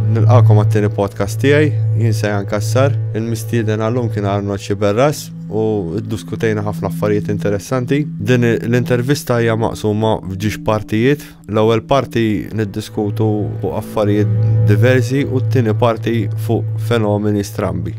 Nilqakom għat-tieni podcast tiegħi, jien se jankassar, il-mistieden għallum kien Arnold Xiberras u diskutejna ħafna affarijiet interessanti. Din l-intervista hija maqsuma f'ġiex partijiet. L-ewwel parti niddiskutu fuq affarijiet diversi u t-tieni parti fuq fenomeni strambi.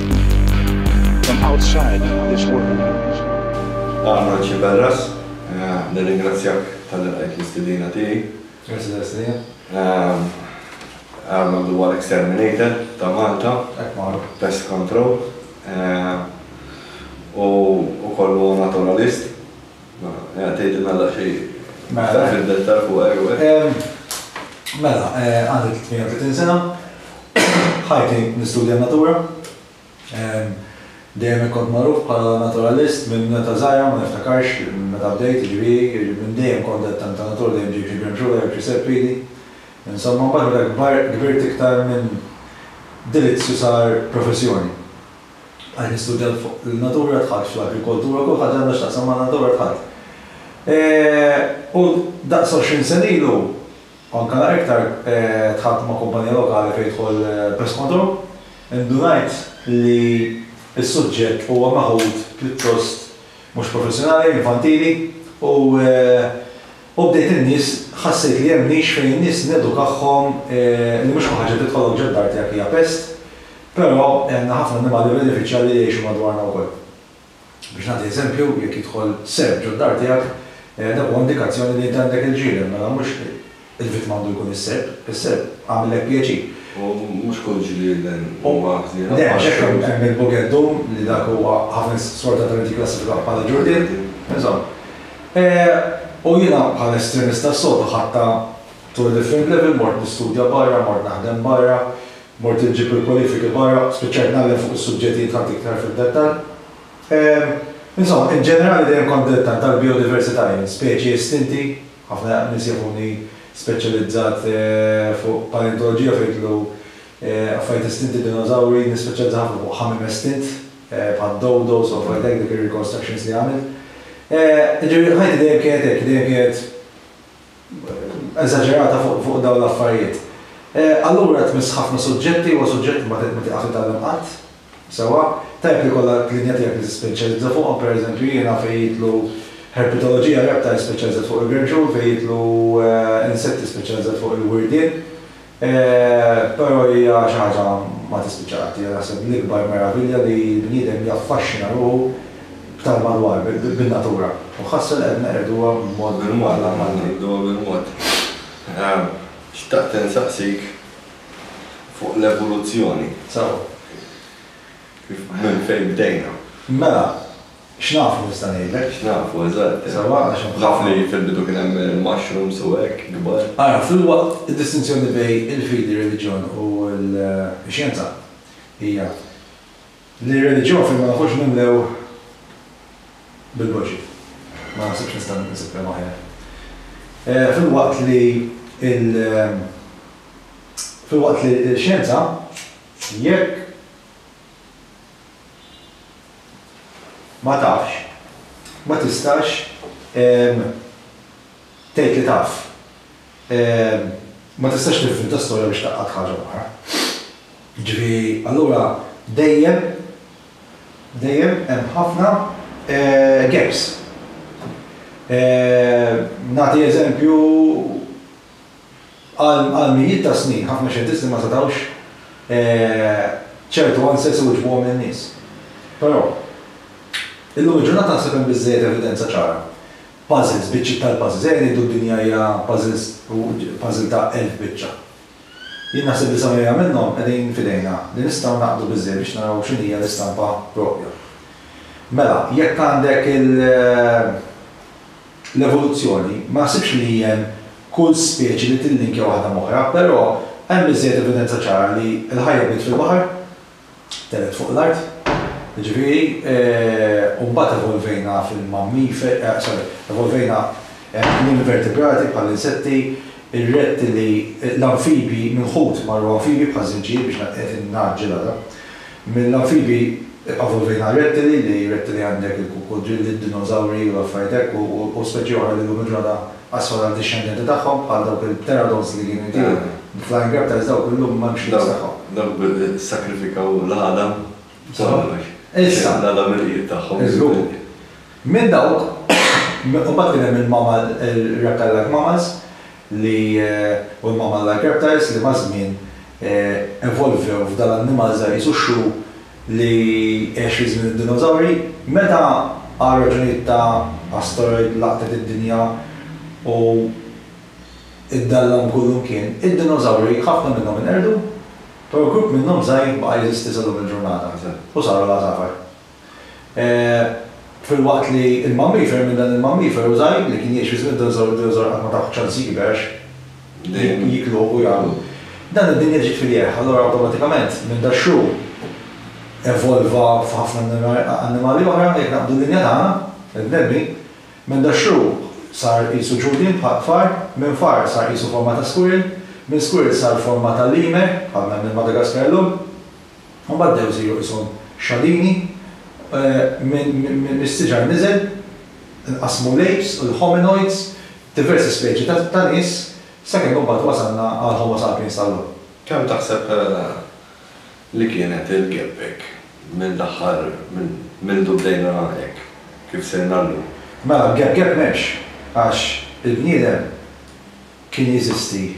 From outside this world. Arnold Sciberras, nirringrazzjak talli qbajt l-istedina tiegħi. Grazzi tal-istedina. Arnold huwa l-exterminator ta' Malta. Hekk magħruf. Pest control. Hu wkoll huwa naturalist. Mela, tgħidilna daqsxejn iktar fid-dettall fuq Erueh? Mela, għandi 38 sena, ħajti nistudja n-natura. Dejjem kont magħruf bħala naturalist minn meta żgħira, ma niftakarx meta bdejt, jiġifieri minn dejjem kont qed tant ta' natura, dejjem ġejt xi gremxula jew xi serpiedi. Insomma, imbagħad meta kbirt iktar minn delizzju sar professjoni. Qed nistudja fuq in-natura tħadd, fuq l-agrikoltura, kull ħaġa għandha x'taqsam man-natura tħadd. U daqs għoxrin sena ilu, anke naqra iktar, tħadt ma' kumpanija lokali fejn jidħol pest control. Indunajt li s-suġġett huwa meħud pjuttost mhux professjonali, infantili, u u bdejt in-nies, ħassejt li hemm nix fejn in-nies nedukahhom li mhux kull ħaġa tidħolok ġod-dar tiegħek hija pest, Però hemm ħafna annimali benefiċjal li jgħixu madwarna wkoll. Biex nagħti eżempju, jekk jidħol serp ġod-dar tiegħek, dak huwa indikazzjoni li int għandek il-ġieren, mela mhux il-vittma għandu jkun is-serp, is-serp għamillek pjaċir. U mhux kull ġrieden huwa ħniena bħal serp. Le, għax hekk hemm hemm il-bugeddum li dak huwa ħafna nies sfortunatament jikklassifikaw bħala ġurdien, insomma. U jiena bħala estremista s-soltu ħadtha to a different level, mort nistudja barra, mort naħdem barra, Mort inġib il-kwalifiki barra, spiċċajt ngħallem fuq is-suġġett li jidħalt iktar fid-dettall. Insomma, in ġenerali dejjem kont dilettant tal-bijodiversità jien, speċi estinti, ħafna nies jafuni speċjalizzat fuq paleontoloġija fejn jidħlu affarijiet estinti, dinożawri, jien nispeċjalizza ħafna fuq ħamiem estint bħad-dodos u affarijiet hekk, dik ir-reconstructions li għamilt. Jiġifieri ħajti dejjem kienet hekk, dejjem kienet eżaġerata fuq dawn l-affarijiet. Allura tmiss ħafna suġġetti, huwa suġġett li ma tiqaf titgħallem qatt sewwa. Tajjeb li jkollok linja tiegħek li tispeċjalizza fuqhom, pereżempju jiena fejn jidħlu herpetoloġija, reptiles, speċjalizzat fuq il-gerġun, fejn jidħlu insetti speċjalizzat fuq il-wirdien, Però hija xi ħaġa ma tispiċċa qatt. Hija naħseb l-ikbar meravilja li l-bniedem jaffaxxina ruħu b'tal-madwar, bin-natura. U ħasra li qed neqirduha b'mod allarmanti. Neqirduha bil-mod. Xtaqt insaqsik fuq l-evoluzzjoni. Sew. Minn fejn bdejna. Mela, X'nafu nista' ngħidlek. X'nafu, eżatt. Sewwa għax hemm. Naf li fil-bidu kien hemm mushrooms u hekk, kbar. Ara, filwaqt id-distinzjoni bejn il-fidi, ir-reliġjon u l-xjenza hija li r-reliġjon fejn ma nkunx mimlew bil-boġġi, ma naħsibx nista' nsib kliem aħjar. Filwaqt li il, filwaqt li l-xjenza, jekk. Ma tafx. Ma tistax tgħid li taf. Ma tistax tinventa storja biex tgħaqqad ħaġa oħra. Jiġifieri allura dejjem, dejjem hemm ħafna gaps. Nagħti eżempju. Għal mijiet ta' snin, ħafna xjentisti ma setgħux ċertu answers iwiġbuhom lin-nies. Però, illum il-ġurnata naħseb hemm biżżejjed evidenza ċara. Puzzles, biċċiet tal-puzzles, ejja ngħidu d-dinja hija puzzles u puzzle ta' elf biċċa. Jien naħseb li sa mija minnhom qegħdin f'idejna li nistgħu ngħaqqdu biżżejjed biex naraw x'inhija l-istampa proprja. Mela, jekk għandek il. L-evoluzzjoni, ma naħsibx li hemm kull speċi li tillinkja waħda m'oħra, però hemm biżżejjed evidenza ċara li l-ħajja bdiet fil-baħar, tellgħet fuq l-art, jiġifieri, u mbagħad evolvejna fil-mammiferi, sorry, evolvejna mill-invertebrati bħall-insetti, ir-rettili, l-anfibji, mill-ħut marru anfibji bħaż-żinġier biex qed ingħaġġel ara. Mill-anfibi, iqavu fejn għal rettili li rettili għandek il-kukudrilli, d-dinożawri u l-affarijiet hekk u speċi oħra li llum il-ġurnata qasru għal dixxendenti tagħhom bħal dawk il-pteradons li kienu jtiru b'flying reptiles dawk illum m'hemmx l-iks tagħhom. Dawk sakrifikaw l-għala ta' kollox. Issa. L-għala mill-qiegħed tagħhom. Iżgur. Minn dawk, imbagħad kien hemm il-mammal, ir-reptile-like mammals, li huma malajr reptiles li maż-żmien evolvew f'dan l-annimal żgħir qisu x-xu li għex fi żmien id-dinozawri. Meta għal raġunijiet ta' asteroid laqtet id-dinja u ddallam kullimkien, id-dinozawri ħafna minnhom inqerdu, però grupp minnhom żgħir baqa' jeżisti sal-lum il-ġurnata u saru l-għasafar. Filwaqt li l-mammifer, minn dan il-mammifer u żgħir li kien jgħix fi żmien id-dinożawri, id-dinożawr qatt ma taw ċans jikber għax jikluh u jagħmlu. Dan id-dinja ġiet filieħ, allura awtomatikament minn daxxu evolva f'ħafna annimali oħra, jekk naqbdu d-dinja tagħna, il-bnedmin, minn daxxu sar qisu ġurdien bħal far, minn far sar qisu forma ta' squirrel, minn squirrel sar forma ta' lemur, bħal ma hemm il-Madagaskar illum. Imbagħad bdew isiru qishom xalini, mis-siġar niżel, inqasmu l-apes u l-hominoids, diversi speċi ta' nies, sakemm imbagħad wasalna għall-homo sapiens tal-lum. Kemm taħseb li kienet il-gap hekk minn l-aħħar, minn mindu bdejna hekk kif sirna llum? Mela, gap m'hemmx, għax il-bniedem kien jeżisti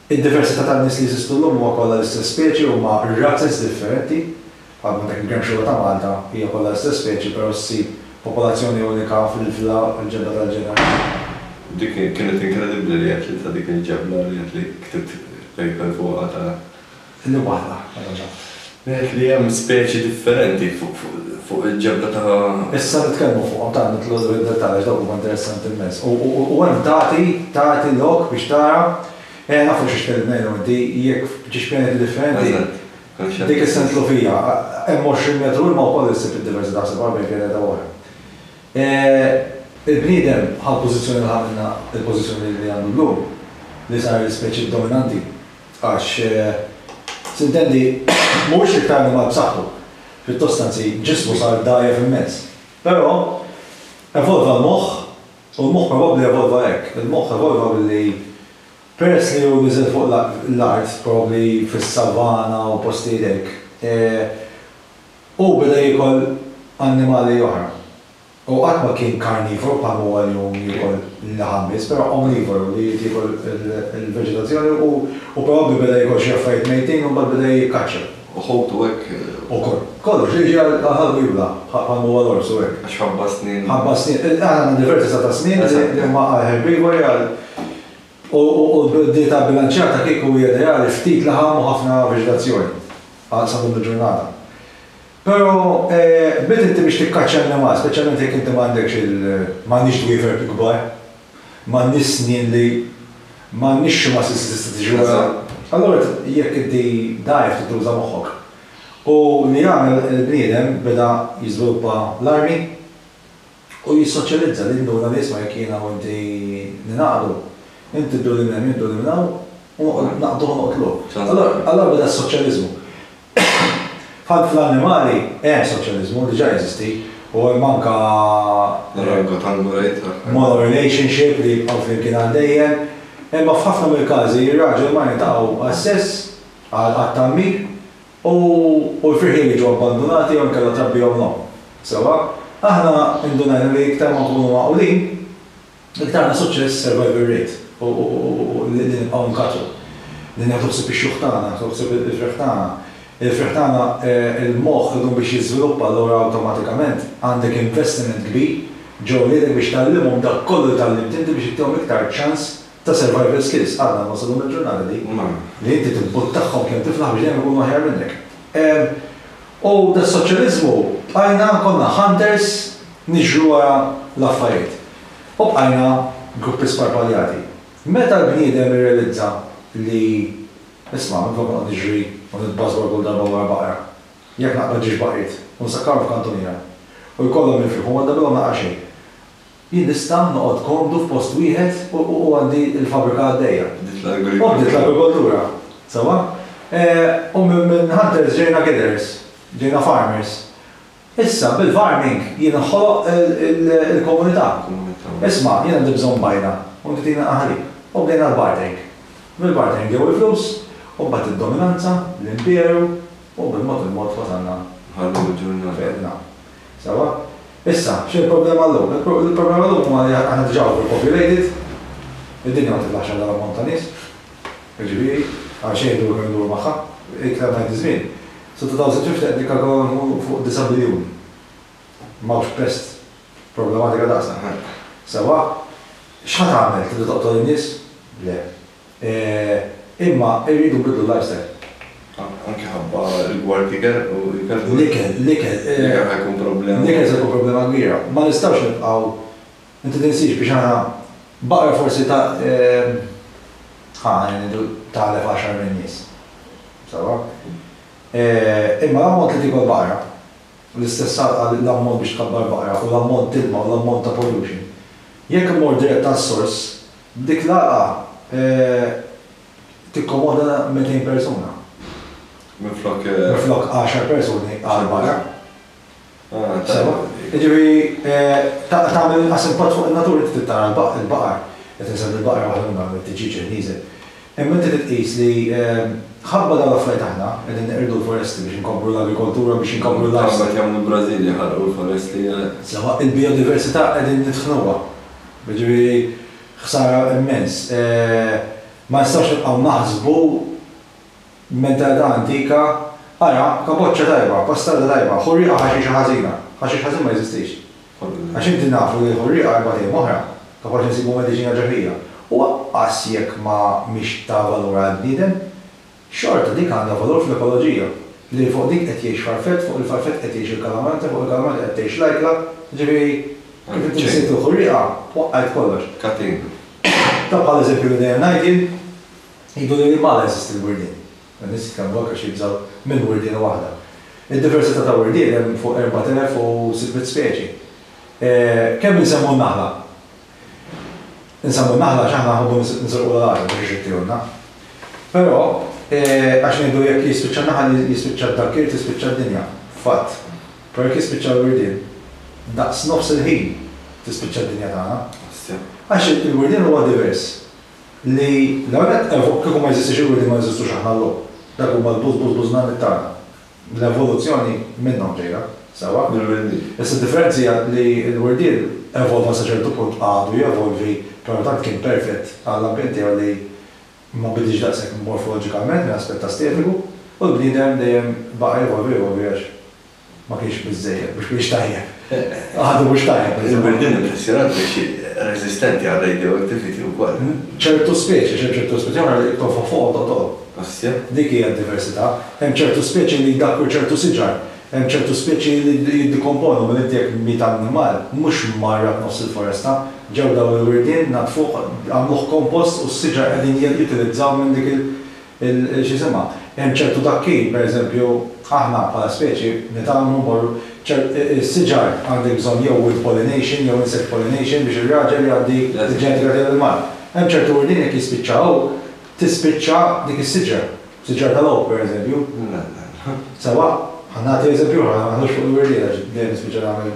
Id-diversità tan-nies li jeżistu llum huwa kollha l-istess speċi huma razez differenti, bħal ma dak il-gemxura ta' Malta hija kollha l-istess speċi però ssib popolazzjoni unika fil-vla l-ġebla tal-ġeneri. Dik kienet inkredibbli li għedt li ta' dik il-ġebla li għedt li ktibt paper fuqha ta' F'din waħda, allura, ngħid li hemm speċi differenti fuq il-ġebla ta'. Issa nitkellmu fuqhom, tant nidħlu fid-dettall għax dawk huma interessanti immens. U hemm tagħti, tagħti lok biex tara, eh naf fuq xiex tkellimna jien u inti, jekk f'ġiex pjaneti differenti, dik is-sentlufija, hemm 20 metru ilma wkoll issib id-diversità, ħseb ara bejn pjaneta u oħra. Il-bniedem ħa l-pożizzjoni li ħa minha, il-pożizzjoni li għandu llum, li sar l-ispeċi dominanti. Għax, tintendi, mhuwiex iktar annimal b'saħħtu. Pjuttost anzi, ġismu sar dgħajjef immens. Però, evolva l-moħħ, u l-moħħ probabbli evolva hekk. Il-moħħ evolva billi, peress li hu niżel fuq l-art, probabbli fis-savana u postijiet hekk, hu beda jiekol annimali oħra. Hu qatt ma kien karnivoru bħalma huwa llum li jiekol il-laħam biss, però omnivoru li jrid jiekol il-veġetazzjoni u probabbli beda jiekol xi affarijiet mejtin u mbagħad beda jikkaċċja. U ħutu hekk? Ukoll. Kollox, li jiġi għal ħalq u jibla', bħalma huwa l-ors u hekk. Għax ħabba s-snien. Ħabba s-snien. Aħna għandna diversi seta' snien li huma għal herbivori, għal u d-dieta bbilanċjata kieku hija ideali, ftit laħam u ħafna veġetazzjoni għal sa llum il-ġurnata. Però qbilt inti biex tikkaċċja n-nemgħat, speċjalment jekk inti m'għandekx il. M'għandniex dwiefer kbar, m'għandniex snien li. M'għandniex xi muscles li tista' tiġri wara. Allura jekk inti dgħajjef trid tuża moħħok. U li jagħmel il-bniedem beda jiżviluppa l-armi. Hu jissoċjalizza li jinduna li isma' jekk jiena u inti ningħaqdu, inti dduni minn hemm jien dduni minn hawn u noqgħod naqduh u noqtluh. Allura beda s-soċjaliżmu. F'ħadd fl-annimali hemm soċjaliżmu, diġà jeżisti, u hemm anke monorelationship li jibqgħu flimkien għal dejjem, imma f'ħafna mill-każi r-raġel u l-mara jiltaqgħu għas-sess, għat-tgħammir, U l-firħieli jiġu abbandunati jew inkella trabbihom n-nowm. Sewwa, aħna indunajna li iktar ma nkunu magħqulin, iktar għandna suċċess survival rate u li nibqgħu nkaċċu, li nieħdu ħsieb ix-xjuħ tagħna, nieħdu ħsieb il-firħ tagħna. Il-firħ tagħna, il-moħħ idumu biex jiżviluppa allura awtomatikament għandek investiment kbir ġo wliedek biex tgħallimhom dak kollu li tgħallimt inti biex ittihom iktar ċans ta' survival skills għadna ma wasalhom il-ġurnata di, li inti tibbuttahhom kemm tiflaħ biex dejjem ikunu aħjar minnek. U das-soċjaliżmu bqajna, konna hunters niġru wara l-affajiet. U bqajna gruppi sparpaljati. Meta l-bniedem irrealizza li, isma' minn flok noqgħod niġri u nitbażwar kull darba wara baqra, jekk naqbad ġiex baqriet u nsakkarhom f'kantuniera u jkollhom jinfirħu ma ndabilhom laqgħa xejn. Jien nista' noqgħod komdu f'post wieħed u għandi l-fabbrika għaddejja. Bdiet l-agrikoltura. U bdiet l-agrikoltura, sewwa. U minn hunters ġejna gatherers, ġejna farmers. Issa bil-farming jien inħoloq il-komunità. Isma', jien għandi bżonn bajna u inti tini l-qaħalib. U bdejna l-bartering. Mill-bartering ġew il-flus u mbagħad id-dominanza, l-imperu u bil-mod il-mod wasalna fejn qegħdin hawn. Sewwa? Issa, x'inhi l-problema llum? Il-problema llum huwa li aħna diġà overpopulated, id-dinja ma tiblax għal dan l-ammont ta' nies, jiġifieri għal xejn iduru kemm iduru magħha, iktar ma jgħaddi ż-żmien, sa-2050 qed nikkalkolaw li nkunu fuq disa' biljun. M'hawnx pest problematika daqsna. Sewwa, x'ħa tagħmel? Tibda toqtol in-nies? Le. Imma irridu nbidlu l-lifestyle. Anke ħabba rigward ikel u ikel. L-ikel, l-ikel. L-ikel ħa jkun problema. L-ikel se jkun problema kbira. Ma nistgħux nibqgħu, inti tinsiex biex aħna, baqra forsi ta', ħa ngħidu tagħlef għaxar minn nies. Sewwa? Imma l-ammont li tiekol baqra, l-istess għalqa l-ammont biex tkabbar baqra u l-ammont ilma u l-ammont ta' pollution, jekk immur dirett għas-sors, Dik l-għalqa tikkomoda 200 persuna. Minflok. Minflok għaxar persuni għal barra. Sewa? Jiġifieri tagħna tagħmel inqas impatt fuq in-natura, inti trid tara l-baqar, qed insegwi l-baqar waħedhom, it-tiġieġ qed nieżel. Imma inti trid tqis li ħabba dawn l-affarijiet aħna qegħdin neqirdu l-foresti biex inkobbru l-agrikoltura biex inkobbru l-livestock. Imma kemm il-Brażil jaħarqu l-foresti. Sewa il-bijodiversità qegħdin nitħnuha. Jiġifieri ħsara immens. Ma nistgħux nibqgħu naħsbu b'mentalità antika, ara kaboċċa tajba, pastarda tajba, ħu rieqha ħaxixa ħażina. Ħaxix ħażin ma jeżistix. Għax inti nafu li l-ħurrieqa erba' t'iem oħra kapaċi nsibu mediċina ġerħija, u anqas jekk ma mhix ta' valur għall-bniedem, xorta dik għandha valur fl-ekoloġija, li fuq dik qed jgħix farfett, fuq il-farfett qed jgħix il-kalamanta, fuq il-kalamanta qed tgħix l-ajkla, jiġifieri kif inti nsejt il-ħurrieqa, waqqajt kollox. Catena. Ta' bħal eżempju li dejjem ngħid jien, jgħidu li lil ma la jeżisti l-wirdien. Dan is-sikkar huwa għax jibżgħu minn wirdiena waħda. Id-diversità ta' wirdien hemm fuq 4,600 speċi. Kemm insemmu n-naħla? Insemmu n-naħla għax aħna nħobbu nserqulha l-għażel biex ixittilna. Però, għax ngħidu jekk jispiċċa n-naħal jispiċċa d-dakkir tispiċċa d-dinja. Fatt. Però jekk jispiċċa l-wirdien, daqs nofs il-ħin tispiċċa d-dinja tagħna. Għax il-wirdien huwa divers. li l-ewwel nett evo, kieku ma jeżistix il-wiedi ma neżistux aħna llum. Dak huma l-buzz buzz buzz nanni tagħna. L-evoluzzjoni minnhom ġejja, sewwa? Mill-wirdiel. Issa d-differenza hija li l-wirdiel evolva sa ċertu punt, għadu jevolvi, però tant kien perfett għall-ambjent tiegħu li ma bidilx daqshekk morfoloġikament minn aspett astetiku, u l-bniedem dejjem baqa' jevolvi jevolvi għax Ma kienx biżżejjed, mhux kienx tajjeb. Għadu mhux tajjeb. Iżda din il-ħsirat biex reżistenti għal radioactivity wkoll. Ċertu speċi, għax hemm ċertu speċi oħra li tonfoħ fuq u toqtol. Asja. Dik hija d-diversità. Hemm ċertu speċi li jdakkru ċertu siġar. Hemm ċertu speċi li jiddikomponu, mela inti jekk miet annimal, mhux mmarrad nofs il-foresta, ġew dawn il-wirdien, naddfuh, għamluh kompost u s-siġar qegħdin jittilizzaw minn dik il. il, x'isimha, hemm ċertu dakkin, pereżempju, aħna bħala speċi nitgħallmu mmorru, ċert, is-siġar għandek bżonn jew wind pollination jew insect pollination biex ir-raġel jgħaddi l-ġenetika tiegħu lill-mara. Hemm ċertu wirdien jekk jispiċċa hu, tispiċċa dik is-siġra, siġra tal-oak pereżempju. Sewwa? Ħa nagħti eżempju ieħor, ħa ma naħlux fuq il-wirdien għax dejjem nispiċċa nagħmel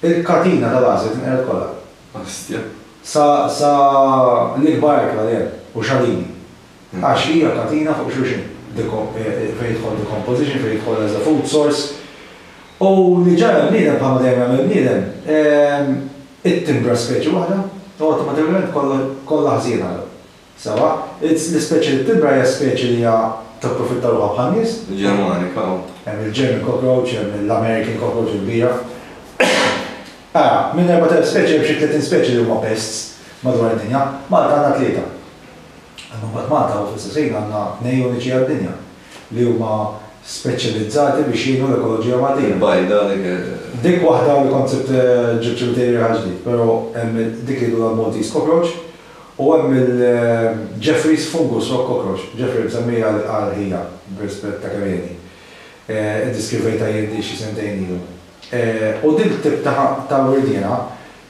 Il-katina tal-għażel tinqered kollha. Ostja. Sa, sa l-ikbar ajkla li hemm, u xalini. Għax hija katina fuq xulxin. Deko, fejn jidħol decomposition, fejn jidħol as a food source. U li ġara l-bniedem, bħalma dejjem jagħmel il-bniedem, it-timbra speċi waħda, u awtomatikament kollha, kollha ħżiena. Sewwa, l-ispeċi li b'timbra hija speċi li hija tapprofitta ruħha bħan-nies. Il-Ġermanika u. Hemm il-German cockroach, hemm l-American cockroach il-kbira. Ara, minn 4,000 speċi hemm xi 30 speċi li huma pests madwar id-dinja. Malta għandna tlieta. Imma mbagħad Malta u fl-istess ħin għandna tnejn uniċi għad-dinja li huma speċjalizzati biex jgħinu l-ekoloġija Maltija. Il-bajda dik. Dik waħda li kont sibt ġibt xi material ġdid, però hemm dik li jgħidulha l-Maltese cockroach, U hemm il-Jeffrey's fungus rock cockroach, Jeffrey msemmija għal ħija b'rispett ta' kemm ilni. Iddiskrivejtha jien din xi sentejn ilu. U dik it-tip ta' wirdiena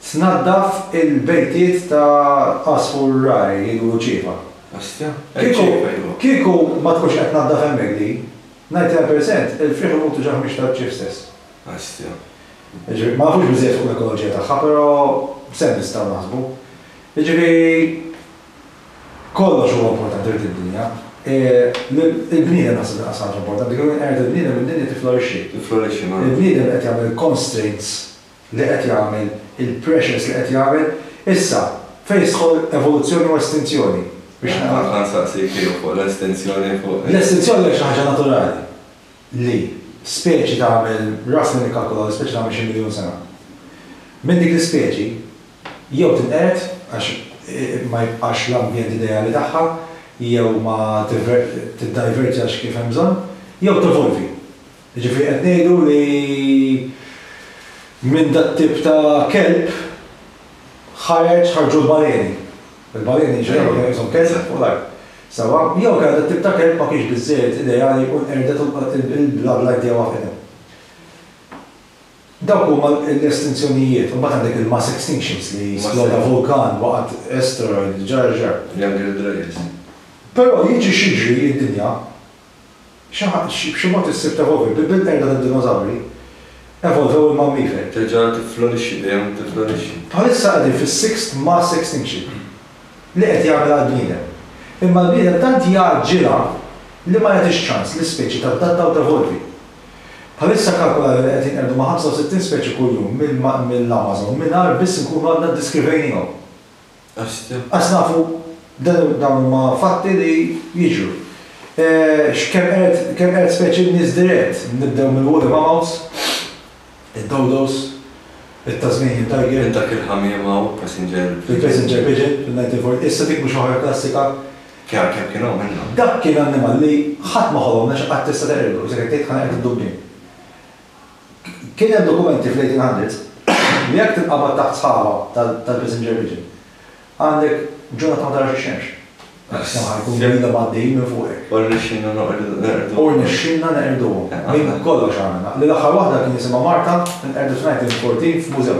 tnaddaf il-bejtiet ta' għasfur rari li jkunu ċiepa. Bestja? Kieku, kieku ma tkunx qed tnaddaf hemmhekk din, ninety nine percent il-frieħ imutu ġa ħmieġ tal-bċieħ stess. Bestja. Jiġifieri, ma nafux biżżejjed fuq l-ekoloġija tagħha, però b'sens nistgħu naħsbu. Jiġifieri kollox huwa importanti f'din id-dinja. Il-bniedem naħseb inqas ħaġa importanti, kemm jien qegħed il-bniedem id-dinja tiflorixxi. Tiflorixxi, mela. Il-bniedem qed jagħmel il-constraints li qed jagħmel, il-pressures li qed jagħmel. Issa, fejn tidħol evoluzzjoni u estinzjoni? Biex nagħlaq. Dak kont nsaqsik jien fuq l-estinzjoni fuq. L-estinzjoni hija xi ħaġa naturali li speċi tagħmel, ras minn ikkalkula li speċi tagħmel xi miljun sena. Minn dik l-ispeċi jew tinqered għax ma jibqax l-ambjent ideali tagħha, jew ma tiddajverġax kif hemm bżonn, jew tevolvi. Jiġifieri qed ngħidu li minn dat-tip ta' kelb ħareġ ħarġu l-baleni. Il-baleni inġeneral kien iqishom kelb fuq l-art. Sewwa? Jew kellha dat-tip ta' kelb ma kienx biżżejjed ideali u nqerdet u l-bloodline tiegħu waqgħet hemm. Dawk huma l-estinzjonijiet. Imbagħad għandek il-mass extinctions li sploda vulkan, waqgħet asteroid, ġara ġara. Younger Dryas. Però jiġri x'jiġri id-dinja xi ħadd b'xi mod issib tevolvi. Bil-qerda tad-dinosawri evolvew il-mammiferi. Terġa' tifflorixxi, dejjem tifflorixxi. Bħalissa qegħdin fis-sixth mass extinction li qed jagħmilha l-bniedem. Imma l-bniedem tant jgħaġġilha li ma jagħtix ċans lis-speċi tadatta u tevolvi. Bħalissa kkalkula li qed jinqerdu ma' 65 speċi kuljum mill-Amazon mingħajr biss inkunu għadna ddiskrivejniehom. Għax nafu dawn huma fatti li jiġru. X'kemm qerd, kemm qerd speċi b'nies dirett, nibdew mill-woolly mammoths, id-dodos, it-Tasmanian tiger. Minn dak il-ħamiem hawn, passenger pigeon. Il-passenger pigeon fil-1940. Issa dik mhux waħda klassika, Kemm, kemm kien hawn minnhom? Dak kien annimal li ħadd ma ħolom għax qatt tista' teqridu, kif se ngħid tgħid ħaneqred id-dubien. Kien hemm dokumenti fl-eighteen hundreds li jekk tinqabad taħt sħaba tal-passenger pigeon għandek ġurnata ma tarax ix-xemx. Is-sema jkunu ilhom għaddejjin minn fuqek. U rnexxielna neqirduhom. U rnexxielna neqirduhom. Minn kollox għamilna. L-aħħar waħda kien jisimha Marta, inqerdet f'nineteen fourteen f'mużew.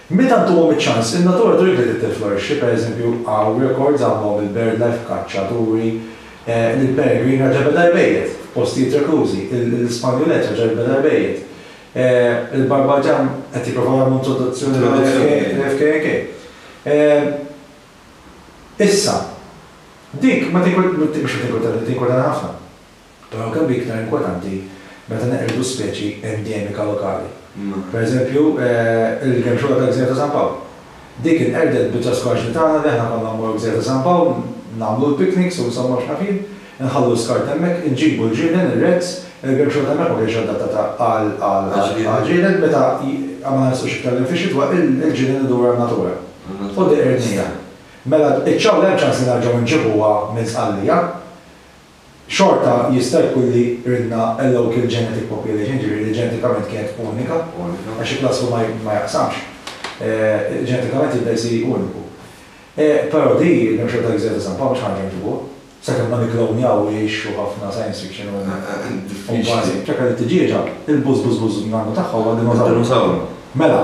Meta ntuhom iċ-ċans, in-natura tridlek li tirflorixxi, pereżempju, hawn rekords għamluhom il-birdlife, kaċċaturi, il-peregrin raġa' beda jbejjet, postijiet reklużi, il-spanjulet raġa' jbeda jbejjet, il-barbadjan qed jipprovaw jagħmlu introduzzjoni tal-FKNK. Issa, dik ma tinkwetani, mhux ma tinkwetani, tinkwetani ħafna. Però kemm hi iktar inkwetanti meta neqirdu speċi endemika lokali. Per eżempju, il-gemxura tal-Gżira ta' San Pawl. Dik inqerdet biċċa skorġni tagħna li aħna konna mmorru Gżira ta' San Pawl, nagħmlu l-picnics u insomma x'naf jien, inħallu l-iskart hemmhekk, inġibu l-ġielen, ir-rets, il-gemxura t'hemmhekk ma kinitx adattata għal ġielen, meta ma nersqux iktar 'l hemm fix-xitwa, il-ġielen idur għan-natura. U dik qirnija. Mela iċ-ċawla hemm ċans li nerġgħu nġibuha minn Sqallija? Xorta jista' jkun li ridna a local genetic population, jiġifieri li ġenetikament kienet unika, għax il-cluster ma jaqsamx, ġenetikament jibda jsir uniku. Però di, il-memxer tal-Gżira ta' San Pawl mhux ħanerġgħu nġibuha, sakemm ma nikklonjawhiex u ħafna science fiction u kważi ċekka li t-tiġieġa, il-bużbużbuż nannu tagħha huwa dinożawru. Mela,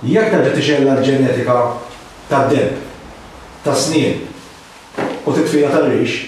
jekk terġa' tixgħelha l-ġenetika tad-deheb, tas-snien u titfila tar-rix,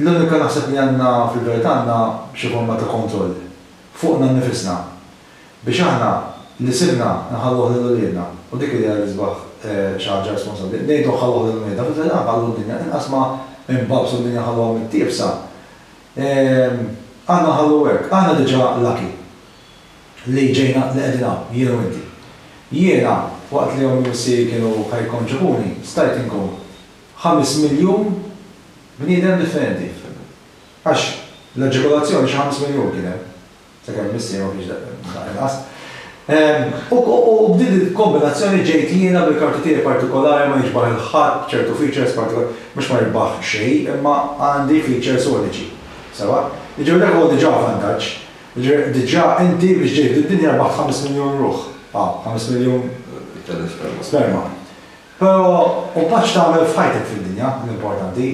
L-unika naħseb li għandna fil-verità għandna xi forma ta' kontroll fuqna nnifisna biex aħna li sibna nħalluh lil uliedna u dik idea li sbaħ xi ħaġa responsabbli ngħidu nħalluh lil uliedna fil-verità nħallu d-dinja inqas ma nbagħbsu d-dinja nħalluha mittiefsa għandna nħallu hekk aħna diġà lucky li ġejna li qegħdin hawn jien u inti. Jiena waqt li ommi u missieri kienu ħa jikkonċepuni stajt inkun. Ħames miljun bniedem differenti. Għax l-aġikulazzjoni xi ħames miljun kien hemm. Sakemm missieri ma kienx daqq inqas. U b'din il-kombinazzjoni ġejt jiena bil-karti tiegħi partikolari ma jiġbah 'il ħadd b'ċertu features partikolari. Mhux ma jiġbah xejn imma għandi features uniċi. Sewwa? Jiġifieri dak huwa diġà vantaġġ. Jiġifieri diġà inti biex ġejt fid-dinja rbaħt ħames miljun ruħ. Ħames miljun sperma. Però hu pass x'tagħmel f'ħajtek fid-dinja, l-importanti.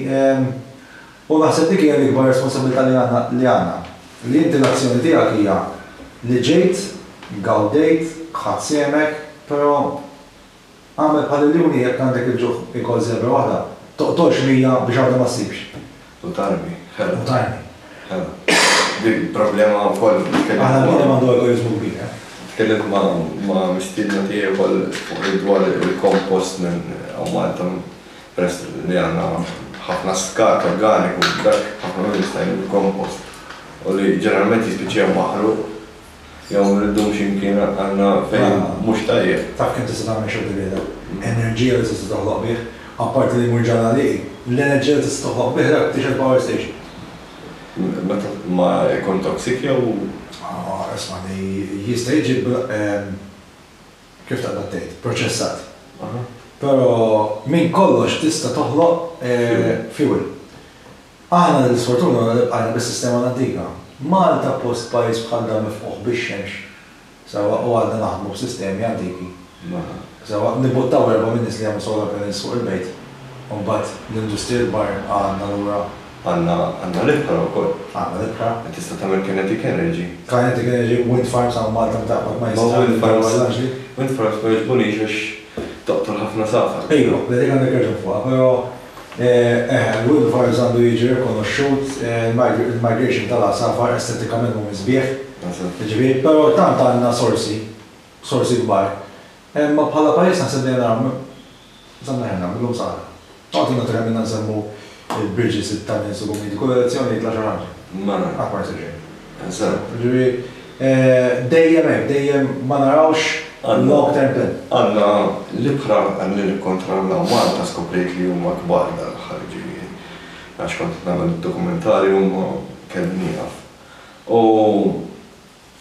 U naħseb dik hija l-ikbar responsabbiltà li għandna, li għandna. Li inti l-azzjoni tiegħek hija li ġejt, gawdejt, ħadt sehmek, però agħmel bħal il-liuni jekk għandek il-ġuħ ikol żebra waħda, toqtolx mija biex waħda ma ssibx. U tarmi. Hela. U tarmi. Hela. Dik problema wkoll li tkellimt. Aħna l-bniedem għandu egoiżmu kbir, eh? Tkellimt ma' ma' mistiedna tiegħi wkoll fuq dwar il-kompost minn hawn Malta peress li għandna ħafna skart organiku, dak ħafna minnhom jista' jmur f'kompost u li ġeneralment jispiċċa maħruq. Jew nriddux imkien għandna fejn mhux tajjeb. Taf kemm tista' tagħmel xogħol ta' bieda? Enerġija li tista' toħloq bih, apparti li jmur ġrannaliqi, l-enerġija li tista' toħloq bih dak t-tixgħel power station. Meta ma jkun toxic jew. Aw, ismagħni, jista' jiġi bl-, kif taqbad tgħid, proċessat. Aha. Però minn kollox tista' toħloq fuel. Aħna l-isfortuna bqajna bis-sistema l-antika. Malta post pajjiż bħal dan mifqugħ bix-xemx sewwa u għadna naħdmu b'sistemi antiki sewwa. Nibbuttaw erba' min-nies li jagħmlu solar panels fuq il-bejt u mbagħad l-industriji l-kbar għadna lura. Għandna għandna l-ibħra wkoll. Għandna l-ibħra. Li tista' tagħmel kinetic energy. Kinetic energy, wind farms hawn Malta meta qatt ma jista' jagħmel power l-aġli. Ma wind farms wind farms ma jogħġbunix għax toqtol ħafna safar. Ejwa, dik għandek raġun fuqha, però Eħe, l-wildfires għandu jiġi rikonoxxut, il-migration tal-għasafar estetikament mhumiex sbieħ, jiġifieri, però tant għandna sorsi, sorsi kbar. Imma bħala pajjiż naħseb li għandna nagħmlu, insomma eħe nagħmilhom sara. Noqgħod innoqgħod kemm ilna nsemmu l-bridges, it-tunnels u kummini, kull elezzjoni jitla' xi ħaġa. Qatt ma jsir xejn. Jiġifieri, dejjem hekk, dejjem ma narawx long term plan. Għandna l-ibħra li nikkontrollaw Malta skoprejt li huma kbar dan l-aħħar jiġifieri għax kont qed nagħmel id-dokumentarju huma kelli nieqaf u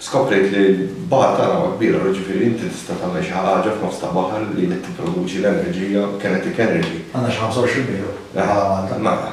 skoprejt li l-baħar tagħna huwa kbir allura jiġifieri inti tista' tagħmel xi ħaġa f'nofs ta' baħar li tipproduċi l-enerġija kinetic energy. Għandna xi 25 mill. Mela.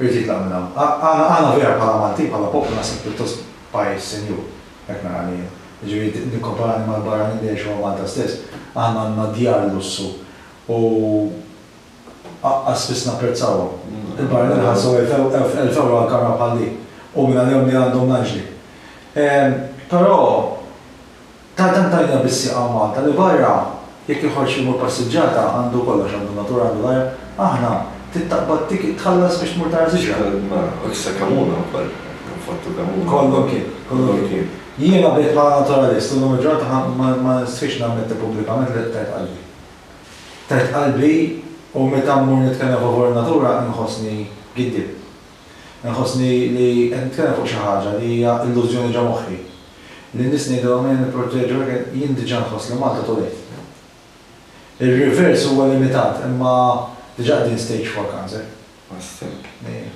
Irid jitlaq minn hawn. Aħna aħna vera bħala Maltin, bħala poplu naħseb pjuttost pajjiż sinjur, hekk nara lejha. Jiġifieri nikkomparani mal-barranin li jgħixu hawn Malta stess, aħna għandna djar lussu u aqqas spiss napprezzawhom. Il-barranin iħallsu elf elf ewro għal kamra bħal din u mingħalihom li għandhom l-anġli. Però. Tant hemm tajna bis-sieq hawn Malta li barra jekk iħoss imur passiġġata għandu kollox għandu natura għandu l-ajr, aħna trid taqbad ticket tħallas biex tmur tara siġra. Mela, u issa kemm hu dan kollu? Infottu kemm hu. Kollu mkien, kollu mkien. Jiena bdejt bħala naturalist u llum il-ġurnata ma nistħix nammetti pubblikament li tajt qalbi. Tajt qalbi u meta mmur nitkellem favur in-natura inħossni giddieb. Inħossni li qed nitkellem fuq xi ħaġa li hija illużjoni ġo moħħi. Lin-nies ngħidilhom ejja nipproteġu hekk hekk, jien diġà nħoss li Malta too late. Ir-reverse huwa limitat imma diġà qegħdin stage four cancer. Ħassek. Ejja.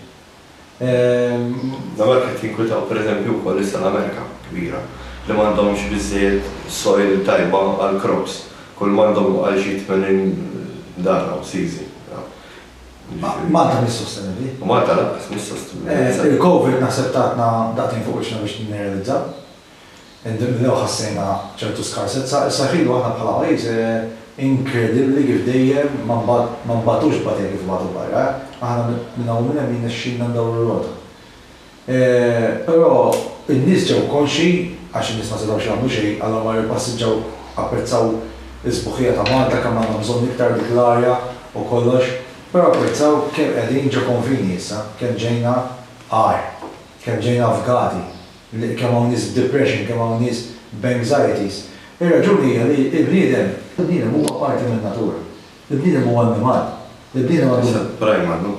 Nagħmilek qed tinkwitaw pereżempju wkoll issa l-Amerika kbira li m'għandhomx biżżejjed soil tajba għall-crops. Kull m'għandhom huwa għal xi tmenin darra u sizi. Malta mhix sostenibbli. U Malta lanqas mhix sostenibbli. Il-Covid naħseb tatna daqtejn fuq wiċċna biex nirrealizzaw. Indunnew ħassejna ċertu skarsezza. Issa ħin u aħna bħala pajjiż inkredibbli kif dejjem ma nbagħtux tbatija kif ibagħtu barra. Aħna minn hawn u minn hemm jirnexxilna ndawru r-rota. Però n-nies ġew konxji, għax in-nies ma setgħux jagħmlu xejn, Alla mar ippassiġġaw, apprezzaw is-sbuħija ta' Malta, kemm għandna bżonn iktar dik l-arja u kollox, però apprezzaw kemm qegħdin ġo konfini issa, kemm ġejna agħar, kemm ġejna avgati, kemm hawn nies b'depression, kemm hawn nies b'anxieties. Ir-raġuni hija li l-bniedem, il-bniedem huwa parti min-natura. Il-bniedem huwa annimal. Il-bniedem għandu. Issa primal, no?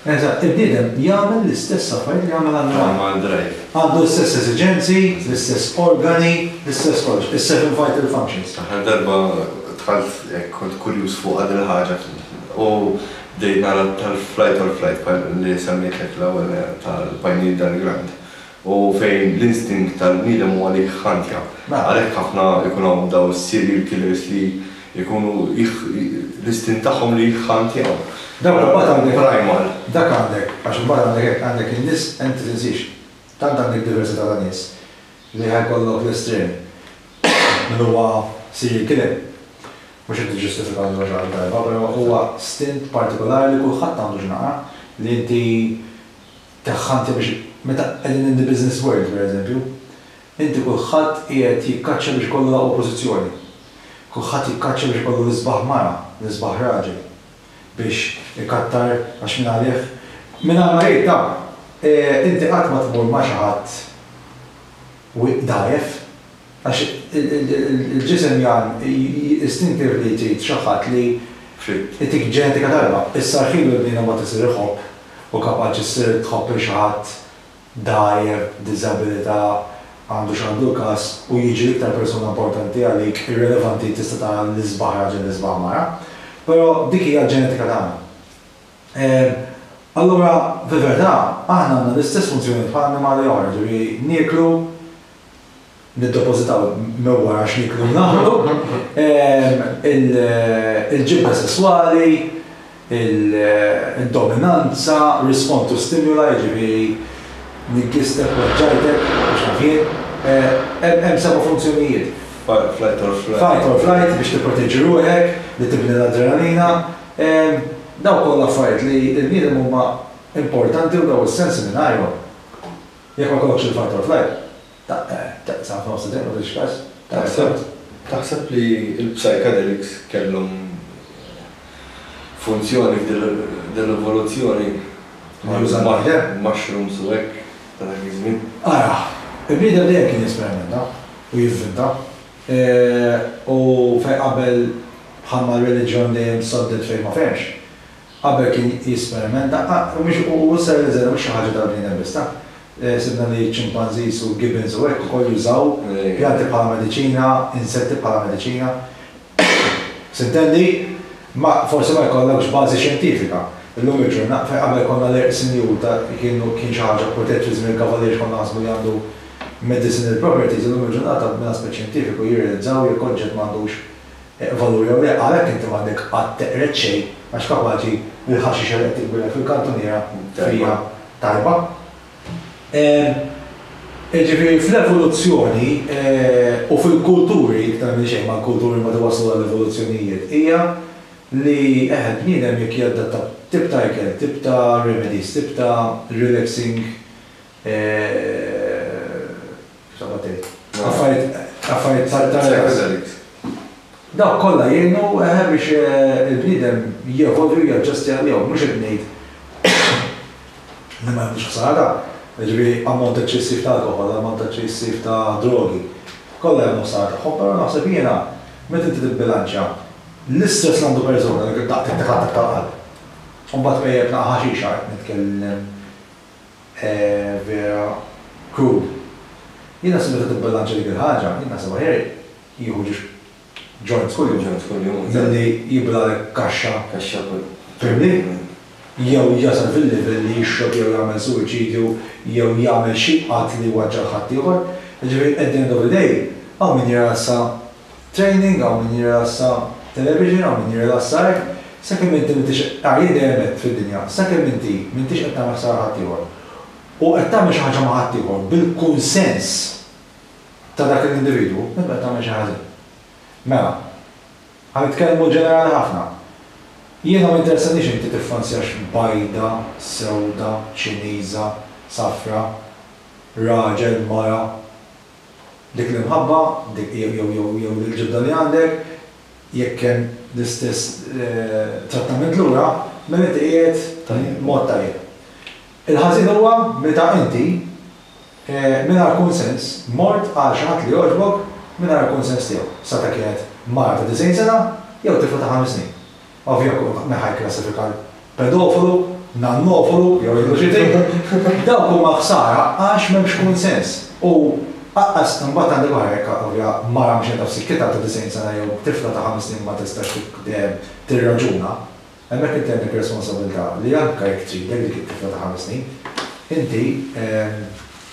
Eżatt, il-bniedem jagħmel l-istess affarijiet li jagħmel annimal. Primal drive. Għandu l-istess esiġenzi, l-istess organi, l-istess kollox. Is-seven vital functions. L-aħħar darba dħalt hekk kont kurjuż fuqha din il-ħaġa u bdejt nara tal-flight or flight li semmejtlek l-ewwel tal-pineal diagram. u fejn l-instinkt tal-bniedem huwa li jħantja. Għalhekk ħafna jkun hawn dawn is-serial killers li jkunu l-istint tagħhom li jħantjaw. Dawn imbagħad għandek primal. Dak għandek, għax imbagħad għandek hekk, għandek in-nies hemm ma tinsiex, tant għandek diversità ta' nies li ħa jkollok l-estrem min huwa serial killer. Mhux qed niġġustifika lil xi ħadd darba, però huwa stint partikolari li kulħadd għandu x'naqra li inti Dehqanti biex meta qegħdin in the business world, pereżempju, inti kulħadd qiegħed jikkaċċja biex ikollu l-aqwa pożizzjoni. Kulħadd jikkaċċja biex ikollu l-isbaħ mara, l-isbaħ raġel. Biex ikattar għax mingħalih, mingħajr ma jgħid dan, inti qatt ma tmur ma' xi ħadd dgħajjef. Għax il-ġisem jgħan istintivli trid xi ħadd li jtik ġenetika tajba. Is-sarħien u l-bniedem mbagħad isir iħobb u kapaċi ssir tħobb lil xi ħadd dgħajjef, b'diżabilità, għandu x'għandu l-każ u jiġi l-iktar persuna importanti għalik, irrelevanti tista' tara l-isbaħ raġel, l-isbaħ mara. Però dik hija l-ġenetika tagħna. Allura, fil-verità, aħna għandna l-istess funzjonijiet bħal annimali oħra, jiġifieri nieklu, niddepożitaw mewwa għax nieklu u nagħmlu, il-ġibda sesswali, id-dominanza, respond to stimuli, jiġifieri niggistek, weġġajtek, mhux naf jien, hemm seba' funzjonijiet. Fight, flight or flight. Fight or flight biex tipproteġi ruħek, li tibni l-adrenalina, dawk kollha affarijiet li l-bniedem huma importanti u dawn is-sensi mingħajrhom. Jekk ma jkollokx il-fight or flight, taqta' f'nofs it-triq ma tridx każ. Taħseb taħseb li l-psychedelics kellhom funzjoni f'dir-rivoluzzjoni mal-mushrooms u hekk ta' dak iż-żmien? Ara, il-bniedem dejjem kien jesperimenta u jivvinta. U fejn qabel bħalma r-reliġjon dejjem soddet fejn ma fehmx, Qabel kien jesperimenta, u mhix u hu ser iżergħu mhix xi ħaġa tal-bniedem biss, ta? Sibna li ċ-ċimpanżis u l-gibbons u hekk ukoll jużaw pjanti bħala mediċina, insetti bħala mediċina. S'intendi, ma, forsi ma jkollokx bażi xjentifika. Illum il-ġurna, fejn qabel konna l-għerq sinjur ta' kienu kien xi ħaġa protett fi żmien il-Kavalier għax konna naħsbu li għandu medicinal properties, illum il-ġurnata minn aspett xjentifiku jirrealizzaw jekk oġġett m'għandux Valur jew le, għalhekk inti m'għandek qatt teqred xejn għax kapaċi li l-ħaxixha li qed titwieled fil-kantuniera hija tajba. Jiġifieri fl-evoluzzjoni u fil-kulturi, iktar minn xejn mal-kulturi mbagħad iwasslu għall-evoluzzjonijiet, hija li eħe l-bniedem jekk jadatta tip ta' ikel, tip ta' remedies, tip ta' relaxing Kif taqbad tgħid? Affarijiet tal-ġenerali. Dawk kollha jgħinu eħe biex il-bniedem jevolvi u jaġġusti għalihom. Mhux qed ngħid li ma jagħmlux ħsara, jiġifieri ammont eċċessiv ta' alkoħol, ammont eċċessiv ta' drogi, kollha jagħmlu ħsara tagħhom, però naħseb jiena meta inti tibbilanċja l-istress li għandu persuna li daqtha tiħaddaq tal-qalb u mbagħad tqejjed naqa' ħaxixa, qed nitkellem Eeh vera cruel. Jiena naħseb meta tibbilanċja dik il-ħaġa, jien naħseb aħjar jieħu ġiex joints kuljum. Joints kuljum, eżatt. Milli jiblalek kaxxa. Kaxxa kull. Fehimni? Jew jasal fil-livell li jixrob jew jagħmel suwiċidju jew jagħmel xi att li jwaġġa' l-ħaddieħor. Jiġifieri at the end of the day hawn min jirasa. Training hawn min jirrilassa Television hawn min jirrilassa hekk Sakemm inti m'intix Ah jien dejjem għedt fid-dinja Sakemm inti m'intix qed tagħmel ħsara ħaddieħor u qed tagħmel xi ħaġa ma' ħaddieħor bil-kunsens ta' dak l-individwu inti qed tagħmel xejn ħażin. Mela, ħa nitkellmu ġenerali ħafna. Jiena ma jinteressaniix inti tiffansjax bajda, sewda, Ċiniża, safra, raġel, mara, Dik l-imħabba, dik jew jew jew jew l-ġibda li għandek, jekk hemm l-istess trattament lura, mela inti qiegħed mod tajjeb. Il-ħażin huwa meta inti, mingħajr kunsens, mort għal xi ħadd li jogħġbok mingħajr il-kunsens tiegħu, sa ta' kienet mara ta' disgħin sena jew tifla ta' ħames snin. Ovjakur, neħa jikklassifika l-pedofilu, nannofolu jew il-luċitik. Dawk huma ħsara għax m'hemmx kunsens. U aqqas imbagħad għandek oħra jekk ovja mara mixja taf sikkitha ta' 90 sena jew tifla ta' ħames snin ma tistax tirraġuna, hemmhekk inti għandek responsabilità li anke jekk tridek dik it-tifla ta' ħames snin, inti